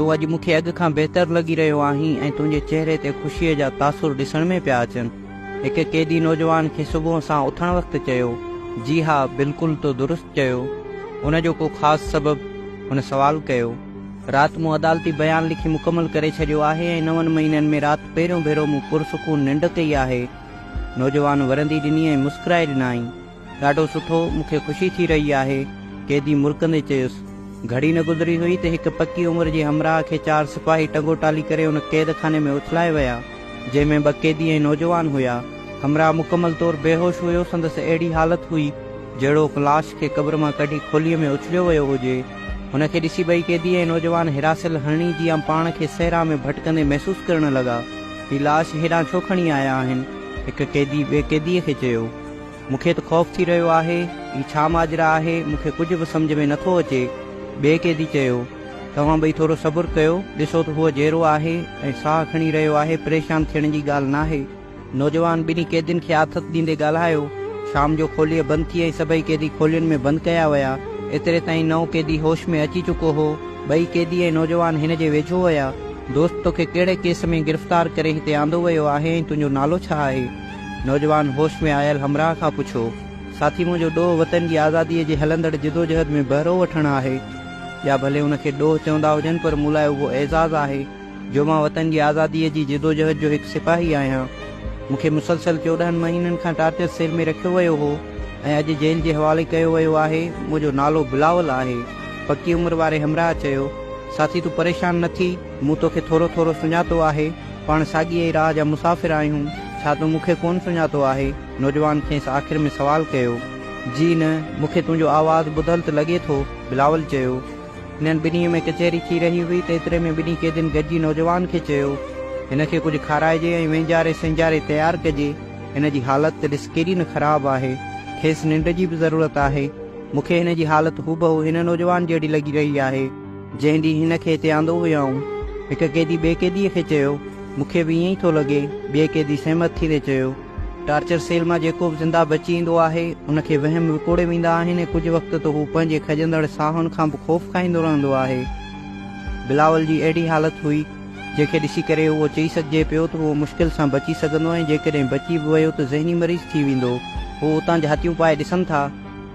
تون اڄ مون کي اڳ کان بهتر لڳي رهيو آهين ۽ تنهنجي چهري تي خوشيء جا تاثر ڏسڻ ۾ پيا اچن. هڪ قيدي نوجوان کي صبح سان اٿڻ وقت چيو. جي ها، بلڪل تو درست چيو. ان جو ڪو خاص سبب؟ هن سوال ڪيو. رات مون عدالتي بيان لکي مڪمل ڪري ڇڏيو آهي ۽ نون مهينن ۾ رات پهريون ڀيرو مون پرسڪون ننڊ ڪئي آهي. نوجوان ورندي ڏني ۽ مسڪرائي ڏنائين. ڏاڍو سٺو، مون کي خوشي ٿي رهي آهي. قيدي مرڪندي چيس. گهڙي نه گذري هئي ته هڪ پڪي عمر جي همراهه کي چار سپاهي ٽنگو ٽالي ڪري ان قيد خاني ۾ اٿلائي ويا، جنهن ۾ ٻه قيدي ۽ نوجوان هيا. همراهه مڪمل طور بيهوش هيو، سندس اهڙي حالت هئي، جهڙوڪ لاش کي قبر مان ڪڍي کوليء ۾ اڇليو ويو هجي. هن کي ڏسي ٻئي قيدي ۽ نوجوان هراسيل هرڻي جيان پاڻ کي صحرا ۾ ڀٽڪندي محسوس ڪرڻ لڳا. هي لاش هيڏانهن ڇو کڻي آيا آهن؟ هڪ قيدي ٻئي قيديء کي چيو. مون کي ته خوف ٿي رهيو آهي، هي ڇا ماجرا آهي، مون کي ڪجهه به سمجهه ۾ نٿو اچي. ٻئي قيدي چيو، توهان ٻئي ٿورو صبر ڪيو، ڏسو ته هو جيئرو آهي ۽ ساهه کڻي رهيو آهي، پريشان ٿيڻ جي ڳالهه ناهي. نوجوان ٻنهي قيدين کي آٿت ڏيندي ڳالهايو. شام جو کوليء بند ٿي ۽ سڀئي قيدي کولين ۾ بند ڪيا ويا. ايتري تائين نئون قيدي هوش ۾ اچي چڪو هو. ٻئي قيدي ۽ نوجوان هن جي ويجهو ويا. دوست توکي ڪهڙي ڪيس ۾ گرفتار ڪري هتي آندو ويو آهي ۽ تنهنجو نالو ڇا آهي؟ نوجوان هوش ۾ آيل همراهه کان پڇيو، ساٿي منهنجو ڏوهه وطن جي آزاديء جي هلندڙ جدوجهد ۾ بهرو وٺڻ آهي. يا ڀلي ان کي ڏوهه چوندا هجن پر مون لاء اهو اعزاز آهي جو مان وطن جي آزاديء جي جدوجهد جو هڪ سپاهي آهيان. مون کي مسلسل چوڏهن مهينن کان ٽارچر سيل ۾ رکيو ويو هو ۽ اڄ جيل جي حوالي ڪيو ويو آهي. منهنجو نالو بلاول آهي. پڪي عمر واري همراهه چيو، ساٿي تون پريشان نه ٿي. مون توکي ٿورو ٿورو سڃاتو آهي، پاڻ ساڳيء ئي راهه جا مسافر آهيون، ڇا تون مون کي ڪونه سڃاتو آهي؟ نوجوان کيس آخر ۾ سوال ڪيو. جي نه، مون کي تنهنجو آواز ٻڌل ته لڳي ٿو، بلاول چيو. هنن ٻنهي ۾ ڪچهري ٿي رهي هئي ته ايتري ۾ ٻنهي قيدين گڏجي نوجوان کي چيو، هن کي ڪجهه کارائجي ۽ وينجاري سينجاري تيار ڪجي، هن جي حالت ته ڏس ڪيڏي نه خراب آهي، کيس ننڊ جي به ضرورت آهي، مون کي هن جي حالت هوبهو هن نوجوان جهڙي لڳي رهي آهي. جنهن ڏينهن هن کي هتي آندو هيائون، هڪ قيدي ٻئي قيديء کي چيو، مون کي به ائين ئي ٿو لڳي. ٻئي قيدي سهمت ٿيندي چيو، ٽارچر سيل مان جيڪو به زنده بچي ايندو آهي، ان کي وهم وڪوڙي ويندا آهن ۽ ڪجهه وقت ته هو پنهنجي کڄندڙ ساهن کان به خوف کائيندو رهندو آهي. بلاول جي اهڙي حالت هئي، جنهن کي ڏسي ڪري اهو چئي سگهجي پيو ته هو مشڪل سان بچي سگهندو ۽ جيڪڏهن بچي به ويو ته ذهني مريض ٿي ويندو. هو اتان جهاتيون پائي ڏسن ٿا.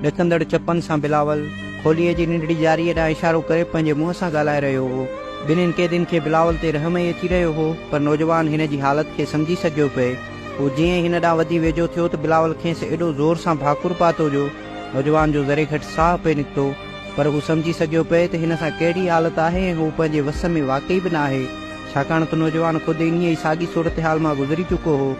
ڏڪندڙ چپن سان بلاول کوليء جي ننڍڙي جاريء ڏانهن اشارو ڪري پنهنجي منهن سان ڳالهائي رهيو هو. ٻنهين قيدين کي بلاول تي رحم ئي اچي رهيو هو، پر نوجوان هن جي حالت کي سمجهي سگهيو پئي. هو جيئن ئي هن ڏانهن وڌي ويجهو ٿيو ته بلاول کيس ايڏو زور سان ڀاڪر پاتو جو نوجوان جو ذري گهٽ ساهه پئي نڪتو. پر هو سمجهي سگهيو پئي ته هن سان ڪهڙي حالت آهي ۽ هو پنهنجي وس ۾ واقعي به ناهي، ڇاڪاڻ ته نوجوان خود انهيء ئي ساڳي صورتحال مان گذري چڪو هو.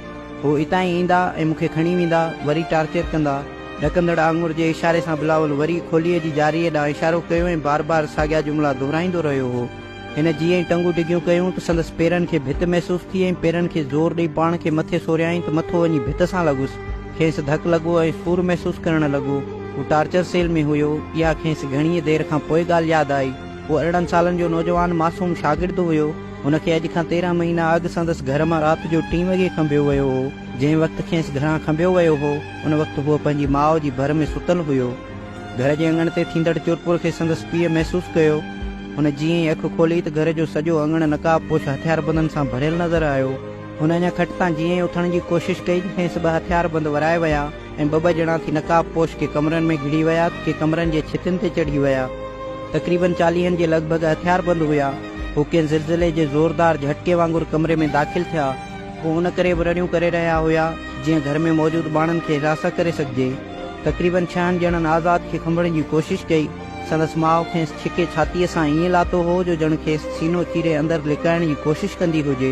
هو اتان ئي ايندا ۽ مون کي کڻي ويندا، وري ٽارچر ڪندا. ڏڪندڙ آڱر جي اشاري سان بلاول وري کوليء جي جاريء ڏانهن اشارو ڪيو ۽ بار بار ساڳيا جملا دهرائيندو رهيو هو. هن جيئن ئي ٽنگون ڊگهيون ڪيون ته سندس پيرن کي ڀت محسوس ٿي ۽ پيرن کي زور ڏئي پاڻ کي مٿي سوريائين ته مٿو وڃي ڀت سان لڳس. کيس ڌڪ لڳو ۽ سور محسوس ڪرڻ لڳو. هو ٽارچر سيل ۾ هيو. اها کيس گهڻيء دير کان پوء ڳالهه ياد آئي. هو ارڙهن سالن جو نوجوان معصوم شاگرد هيو. هن کي اڄ کان تيرهن مهينا اڳ سندس گهر مان رات جو ٽين وڳي کنڀيو ويو هو. جنهن وقت کيس گهران کنڀيو ويو هو. ان وقت هو پنهنجي ماء جي ڀر ۾ ستل هيو. گهر جي اڱڻ تي ٿيندڙ چورپور کي سندس پيء محسوس ڪيو. هن جيئن ئي اک کولي ته گهر جو سڄو اڱڻ نقاب پوش هٿياربندن سان ڀريل نظر آيو. هن اڃا کٽ تان جيئن ئي اٿڻ جي ڪوشش ڪئي ته کيس ٻه هٿياربند ورائي ويا ۽ ٻه ٻه ڄڻا ٿي نقاب پوش ڪي ڪمرن ۾ گهڙي ويا ته ڪي ڪمرن جي ڇتين تي چڙهي ويا. تقريبن چاليهن جي لڳ ڀڳ هٿياربند هيا. هو ڪنهن زلزلي جي زوردار جهٽڪي وانگر ڪمري ۾ داخل ٿيا. هو ان ڪري به رڙيون ڪري رهيا هيا جيئن گهر ۾ موجود ٻانهن کي راسا ڪري سگهجي. تقريبن ڇهن ڄڻن آزاد کي کنڀڻ جي ڪوشش ڪئي. سندس ماء کيس ڇڪي ڇاتيء سان ائين لاتو هو جو ڄڻ کيس سينو چيري اندر لڪائڻ جي ڪوشش ڪندي هجي.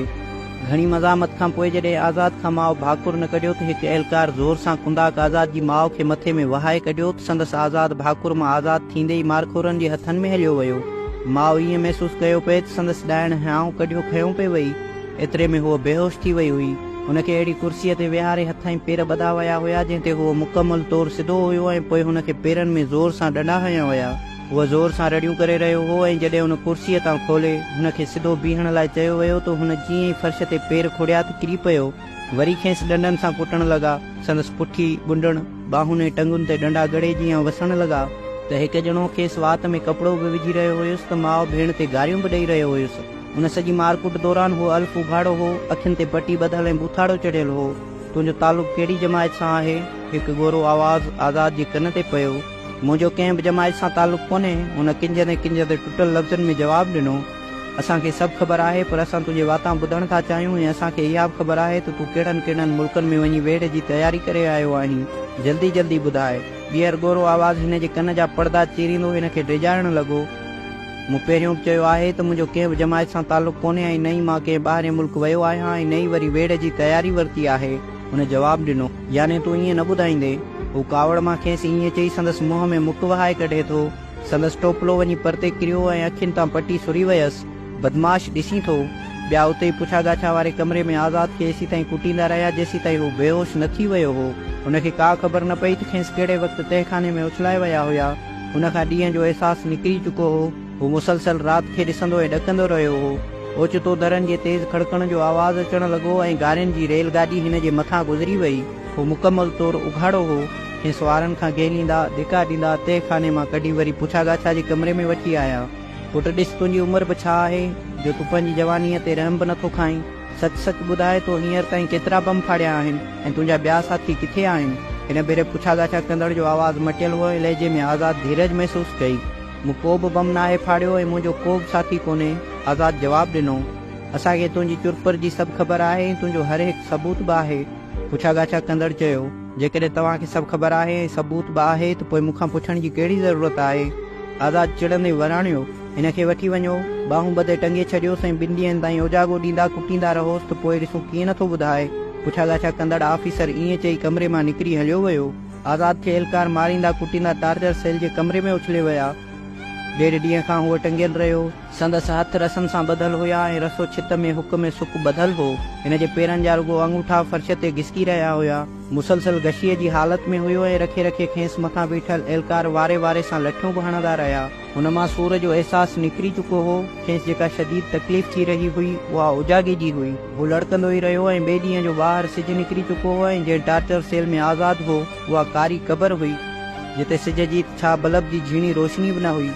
گهڻي مزاحمت کان پوء جڏهن آزاد کان ماء ڀاڪر نه ڪڍيو ته هڪ اهلڪار زور سان ڪنڌاڪ آزاد جي ماء کي مٿي ۾ وهائي ڪڍيو ته سندس آزاد ڀاڪر مان آزاد ٿيندي ئي مارخورن جي هٿن ۾ هليو ويو. ماء ائين محسوس ڪيو پئي ته سندس ڏائڻ هيانء ڪڍيو کنيو پئي وئي. ايتري ۾ هوء بيهوش ٿي وئي هئي. هن کي اهڙي ڪرسيء تي ويهاري هٿ ۽ پير ٻڌا ويا هيا، جنهن تي هوء مڪمل طور سڌو هيو ۽ پوء هن کي پيرن ۾ زور سان ڏنڊا هنيا ويا. هوء زور سان رڙيون ڪري رهيو هو ۽ جڏهن هن ڪرسيء تان کولي، هن کي سڌو بيهڻ لاء چيو ويو ته هن جيئن ئي فرش تي پير کوڙيا ته ڪري پيو. وري کيس ڏنڊن سان ڪٽڻ لڳا. سندس پٺي، ڳنڍڻ، ٻانهن ۽ ٽنگن تي ڏنڊا ڳڙهي جيان وسڻ لڳا. ته هڪ ڄڻو کيس وات ۾ ڪپڙو به وجهي رهيو هيس ته ماء ڀيڻ تي گاريون به ڏئي رهيو هيس. ان سڄي مار ڪٽ دوران هو الف اگهاڙو هو، اکين تي پٽي ٻڌل ۽ بوٿاڙو چڙهيل هو. تنهنجو تعلق ڪهڙي جماعت سان آهي؟ هڪ ڳورو آواز آزاد جي ڪن تي پيو. منهنجو ڪنهن به جماعت سان تعلق ڪونهي. هن ڪنجهندي ڪنجهندي ٽٽل لفظن ۾ جواب ڏنو. اسان کي سڀ خبر آهي، پر اسان تنهنجي واتان ٻڌڻ ٿا چاهيون ۽ اسان کي اها به خبر آهي ته تون ڪهڙن ڪهڙن ملڪن ۾ وڃي ويڙهه جي تياري ڪري آيو آهين. جلدي جلدي ٻڌاء. ٻيهر ڳورو آواز هن جي ڪن جا پڙدا چيريندو هن کي ڊيڄارڻ لڳو. مون پهريون به چيو آهي ته منهنجو ڪنهن به جماعت سان تعلق ڪونهي ۽ نه ئي مان ڪنهن ٻاهرين ملڪ ويو آهيان ۽ نه ئي وري ويڙهه جي تياري ورتي آهي. هن جواب ڏنو. يعني تون ائين نه ٻڌائيندين؟ هو ڪاوڙ مان کيس ائين چئي سندس منهن ۾ مک وهائي ڪڍي ٿو. سندس ٽوپلو وڃي پرتي ڪريو ۽ اکين تان پٽي سري ويس. بدمعاش ڏسين ٿو. ٻيا اتي ئي پڇا ڳاڇا واري ڪمري ۾ آزاد کي ايسيتائين ڪٽيندا رهيا جيسيتائين هو بيهوش نه ٿي ويو هو. هن کي ڪا خبر نه پئي ته کيس ڪهڙي وقت تهخاني ۾ اڇلائي ويا هيا. هن کان ڏينهن جو احساس نڪري چڪو هو. هو مسلسل رات کي ڏسندو ۽ ڏڪندو رهيو هو. اوچتو درن جي تيز کڙڪڻ جو آواز اچڻ لڳو ۽ گارين جي ريل گاڏي هن جي مٿان گذري وئي. هو مڪمل طور اگهاڙو هو. هن سوارن کان گهيليندا، ڌڪا ڏيندا، تهه خاني مان ڪڍي وري پڇا ڳاڇا جي ڪمري ۾ وٺي آيا. پٽ ڏس تنهنجي عمر به ڇا آهي، جو تون پنهنجي جوانيء تي رحم به نٿو کائين. سچ سچ ٻڌاء تو هينئر تائين ڪيترا بم ڦاڙيا آهن ۽ تنهنجا ٻيا ساٿي ڪٿي آهن؟ هن ڀيري پڇا ڳاڇا ڪندڙ جو آواز مٽيل هو ۽ لهجي ۾ آزاد ڌيرج محسوس ڪئي. مون ڪو به بم ناهي ڦاڙيو ۽ منهنجو ڪو به ساٿي ڪونهي، آزاد جواب ڏنو. اسان کي تنهنجي چرپر جي سڀ خبر آهي ۽ تنهنجو هر هڪ ثبوت به آهي. پڇا ڳاڇا ڪندڙ چيو. جيڪڏهن توهان کي سڀ خبر آهي ۽ ثبوت به آهي ته پوء مون کان پڇڻ جي ڪهڙي ضرورت آهي؟ آزاد چڙندي وراڻيو. هن کي وٺي وڃو، ٻانهون ٻڌي ٽنگي ڇڏيوس ۽ ٻن ڏينهن تائين اوجاڳو ڏيندا ڪٽيندا رهوس ته پوء ڏسون ڪيئن نٿو ٻڌائي. پڇا ڳاڇا ڪندڙ آفيسر ائين چئي ڪمري مان نڪري هليو ويو. آزاد کي اهلڪار ماريندا ڪٽيندا ٽارچر سيل جي ڪمري ۾ اڇلي ويا. ڏيڍ ڏينهن کان هو ٽنگيل رهيو. سندس هٿ رسن سان ٻڌل هيا ۽ رسو ڇت ۾ هڪ ۾ سڪ ٻڌل هو. هن جي پيرن جا رڳو آڱوٺا فرش تي گسڪي رهيا هيا. مسلسل غشيء جي حالت ۾ هيو ۽ رکي رکي کيس مٿان بيٺل اهلڪار واري واري سان لٺيون به هڻندا رهيا. هن مان سور جو احساس نڪري چڪو هو. کيس جيڪا شديد تڪليف ٿي رهي هئي، اها اوجاڳي جي هئي. هو لڙڪندو ئي رهيو ۽ ٻئي ڏينهن جو ٻاهر سج نڪري چڪو هو ۽ جنهن ٽارچر سيل ۾ آزاد هو، اها ڪاري قبر هئي، جتي سج جي ته ڇا بلب جي جھيڻي روشني به نه هئي.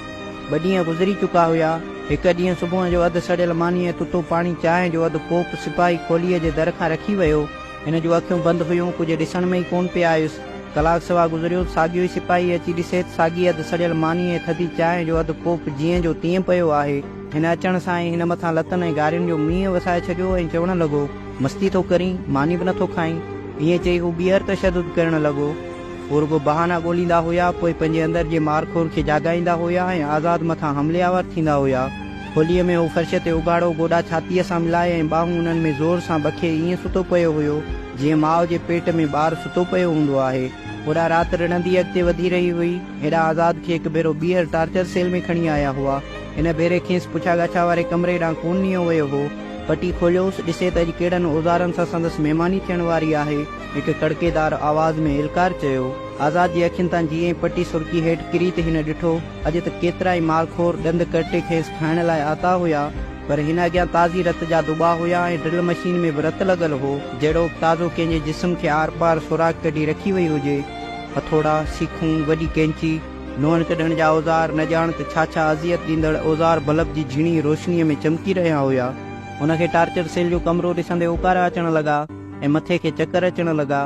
ٻه ڏينهن گذري چڪا هيا. هڪ ڏينهن صبح جو اڌ سڙيل ماني ۽ تتو پاڻي چانهه جو اڌ ڪوپ سپاهي کوليء جي در کان رکي ويو. هن جون اکيون بند هيون، ڪجهه ڏسڻ ۾ ئي ڪونه پئي آيس. ڪلاڪ سوا گذريو، ساڳيو ئي سپاهي اچي ڏسي ته ساڳي اڌ سڙيل ماني ۽ ٿڌي چانهه جو اڌ ڪوپ جيئن جو تيئن پيو آهي. هن اچڻ سان ئي هن مٿان لتن ۽ گارين جو مينهن وسائي ڇڏيو ۽ چوڻ لڳو. مستي ٿو ڪرين، ماني به نٿو کائين. ائين چئي هو ٻيهر تشدد ڪرڻ لڳو. هو رڳو بهانا ڳوليندا هيا، پوء پنهنجي اندر جي مار خور کي جاڳائيندا هيا ۽ آزاد مٿان حملي آور ٿيندا هيا. هوليء ۾ هو فرش تي اگهاڙو گوڏا ڇاتيء سان ملائي ۽ ٻانهون انهن ۾ زور سان بکي ائين ستو پيو هيو، جيئن ماء جي پيٽ ۾ ٻار ستو پيو هوندو آهي. هوڏانهن رات رڙندي اڳتي وڌي رهي هئي. هيڏانهن آزاد کي هڪ ڀيرو ٻيهر ٽارچر سيل ۾ کڻي آيا هئا. هن ڀيري کيس پڇا ڳاڇا واري ڪمري ڏانهن ڪونه نيو ويو هو. پٽي کوليوس، ڏسي ته اڄ ڪهڙن اوزارن سان سندس مهماني ٿيڻ واري آهي. هڪ ڪڙڪيدار آواز ۾ ايلڪار چيو. آزاد جي اکين تان جيئن ئي پٽي سرڪي هيٺ ڪري ته هن ڏٺو، اڄ ته ڪيترائي مارخور ڏند ڪرٽي کيس کائڻ لاء آتا هيا. پر هن اڳيان تازي رت جا دٻا هيا ۽ ڊرل مشين ۾ به رت لڳل هو، جهڙوڪ تازو ڪنهن جي جسم کي آر پار سوراخ ڪڍي رکي وئي هجي. هٿوڙا، سيخون، وڏي ڪئنچي، لوڻ ڪڍڻ جا اوزار، نه ڄاڻ ته ڇا ڇا اذيت ڏيندڙ اوزار بلب جي جهڻي روشنيء ۾ چمڪي رهيا هيا. هن کي ٽارچر سيل جو ڪمرو ڏسندي اوڪارا اچڻ لڳا ۽ مٿي کي چڪر اچڻ لڳا.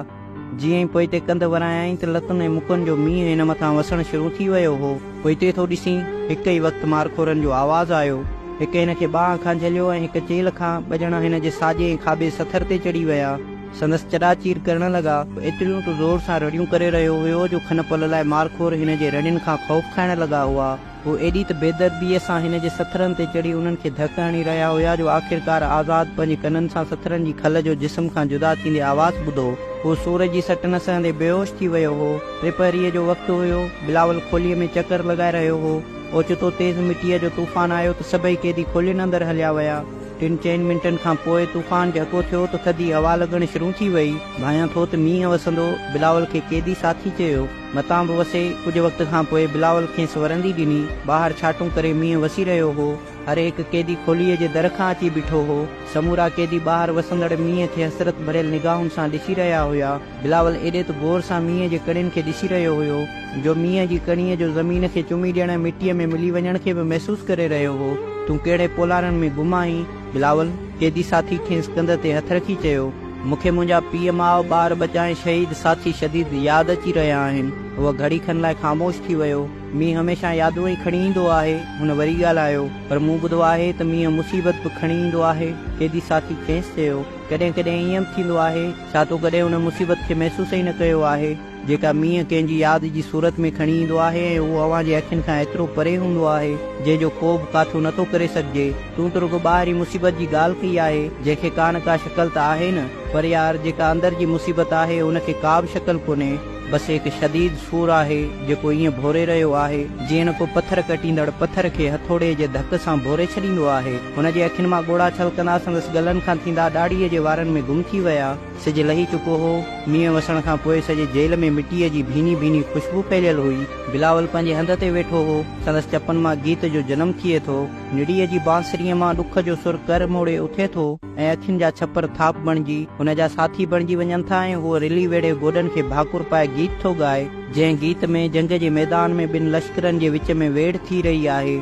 جيئن ئي پوئتي ڪنڌ ورايائين ته لتن ۽ مڪن جو مينهن هن مٿان وسڻ شروع ٿي ويو هو. پوئتي ٿو ڏسين، هڪ ئي وقت مارخورن جو آواز آيو. هڪ هن کي ٻانهن کان جهليو ۽ هڪ چيلهه کان، ٻه ڄڻا هن جي ساڄي ۽ کاٻي سٿر تي چڙهي ويا. سندس چڏا چير ڪرڻ لڳا. هو ايتريون ته زور سان رڙيون ڪري رهيو هيو جو کن پل لاء مارخور هن جي رڙين کان خوف کائڻ لڳا هئا. هو ايڏي ته بيدرديء سان هن جي سٿرن تي چڙهي انهن کي ڌڪ هڻي رهيا هيا جو آخرڪار آزاد پنهنجي ڪنن سان سٿرن جي کل جو جسم کان جدا ٿيندي آواز ٻڌو. هو سور جي سٽ نه سهندي بيهوش ٿي ويو هو. ٽي پهريء جو وقت هيو. بلاول کوليء ۾ چڪر لڳائي رهيو هو. اوچتو تيز مٽيء جو طوفان آيو ته سڀئي قيدي کولين اندر هليا ويا. ٽن چئن منٽن کان پوء طوفان جهڪو ٿيو ته ٿڌي هوا لڳڻ شرون ٿي ويئي. ڀانيان ٿو ته مينهن وسندو. بلاول کي قيدي ساٿي چيو. متان به وسي. ڪجهه وقت کان پوء بلاول کيس ورندي ڏني. ٻاهر ڇاٽون ڪري مينهن وسي رهيو هو. هر هڪ قيدي کوليء جي در کان اچي بيٺو هو. سمورا قيدي ٻاهر وسندڙ مينهن کي حسرت ڀريل نگاهن سان ڏسي رهيا هيا. بلاول ايڏي ته غور سان مينهن جي ڪڻين کي ڏسي رهيو هيو، جو مينهن جي ڪڻيء جو زمين کي چمي ڏيڻ ۽ مٽيء ۾ ملي وڃڻ کي به محسوس ڪري رهيو هو. تون ڪهڙي پولارن ۾ گم آهين؟ بلاول، قيدي ساٿي کيس ڪنڌ تي هٿ رکي چيو. مون کي منهنجا پيء ماء، ٻار ٻچا ۽ شهيد ساٿي شديد ياد اچي رهيا آهن. هو گهڙي کن لاء خاموش ٿي ويو. مينهن هميشه يادون ئي کڻي ايندو آهي. هن وري ڳالهايو، پر مون ٻڌو آهي ته مينهن مصيبت به کڻي ايندو آهي. قيدي ساٿي کيس چيو، ڪڏهن ڪڏهن ائين به ٿيندو آهي. ڇا تو ڪڏهن ان مصيبت کي محسوس ئي نه ڪيو آهي؟ جيڪا مينهن ڪنهن جي ياد جي صورت ۾ کڻي ايندو آهي ۽ اهو اوهان جي اکين کان ايترو پري هوندو آهي، جنهن جو ڪوبه ڪاٿو نه ٿو ڪري سگهجي. تون ته رڳو ٻاهرين مصيبت جي ڳالهه ڪئي آهي، جنهن کي ڪا نه ڪا شڪل ته آهي نه، پر يار جيڪا اندر جي مصيبت آهي، ان کي ڪابه شڪل ڪونهي، بس هڪ شديد سور آهي، جيڪو ائين ڀوري رهيو آهي، جيئن ڪو پٿر ڪٽيندڙ پٿر کي هٿوڙي جي ڌڪ سان ڀوري ڇڏيندو آهي. هن جي اکين مان ڳوڙها ڇلڪندا سندس ڳلن کان ٿيندا ڏاڙهيء جي وارن ۾ گم ٿي ويا. سج لهي چڪو هو. مينهن وسڻ کان پوء سڄي جيل ۾ مٽيء جي ڀيني ڀيني خوشبو ڦهليل هئي. بلاول پنهنجي هنڌ تي ويٺو هو. سندس چپن مان گيت جو جنم ٿئي ٿو. نڙيء جي بانسريء مان ڏک جو سر ڪر موڙي اٿي ٿو ۽ اکين جا ڇپر ٿاڦ بڻجي هن جا ساٿي بڻجي وڃن ٿا ۽ هو رلي ويڙهي گوڏن کي ڀاڪر پائي گيت ٿو ڳائي. جنهن گيت ۾ جنگ جي ميدان ۾ ٻن لشڪرن جي وچ ۾ ويڙهه ٿي رهي آهي.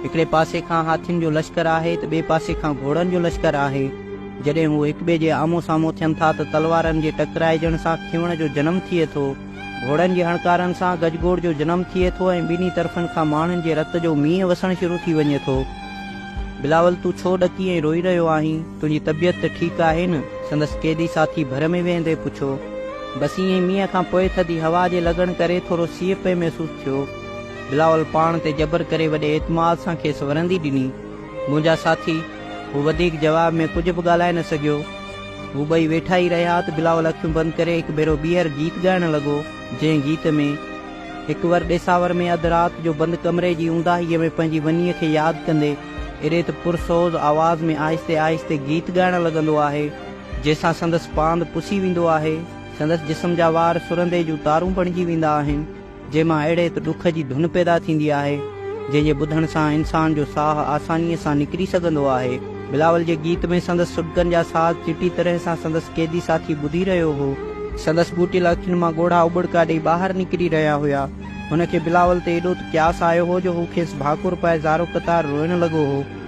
هڪڙي پاسي کان هاٿين جو لشڪر آهي ته ٻئي پاسي کان گهوڙن جو لشڪر آهي. جڏهن هو هڪ ٻئي جي آمهون سامهون ٿين ٿا ته تلوارن جي ٽڪرائجڻ سان کيوڻ جو جنم ٿئي ٿو، گهوڙن جي هڻڪارن سان گجگوڙ جو جنم ٿئي ٿو ۽ ٻنهي طرفن کان ماڻهن جي رت جو مينهن وسڻ شروع ٿي وڃي ٿو. بلاول تون ڇو ڏڪي ۽ روئي رهيو آهين؟ تنهنجي طبيعت ته ٺيڪ آهي نه؟ سندس قيدي ساٿي ڀر ۾ ويهندي پڇيو. بس ائين ئي مينهن کان پوء ٿڌي هوا جي لڳڻ ڪري ٿورو سيء پئي محسوس ٿيو. بلاول پاڻ تي جبر ڪري وڏي اعتماد سان کيس ورندي ڏني. منهنجا ساٿي، هو وڌيڪ جواب ۾ ڪجهه به ڳالهائي نه سگهيو. هو ٻئي ويٺا ئي رهيا ته بلاول اکيون بند ڪري هڪ ڀيرو ٻيهر گيت ڳائڻ لڳو، جنهن گيت ۾ هڪ ور ڏيساور ۾ اڌ رات جو بند ڪمري جي اونداهيء ۾ پنهنجي ونيء کي ياد ڪندي ايڏي ته پر سوز آواز ۾ آهستي آهستي گيت ڳائڻ لڳندو آهي، جنهن سان سندس پاند پسي ويندو آهي، سندس جسم جا وار سرندي جون تارون بڻجي ويندا آهن. جنهن مان اهڙي هڪ ڏک جي ڌن پيدا ٿيندي آهي، جنهن جي ٻڌڻ سان انسان جو ساهه آسانيء سان نڪري سگهندو آهي. بلاول جي گيت ۾ سندس سڏڪن جا ساز چٽي طرح سان سندس قيدي ساٿي ٻڌي رهيو هو. سندس ٻوٽيل اکين مان ڳوڙها اٻڙڪا ڏيئي ٻاهر نڪري رهيا هيا. هن کي بلاول تي ايڏو ته قياس آيو هو جو هو کيس ڀاڪر پائي زارو قطار روئڻ لڳو هو.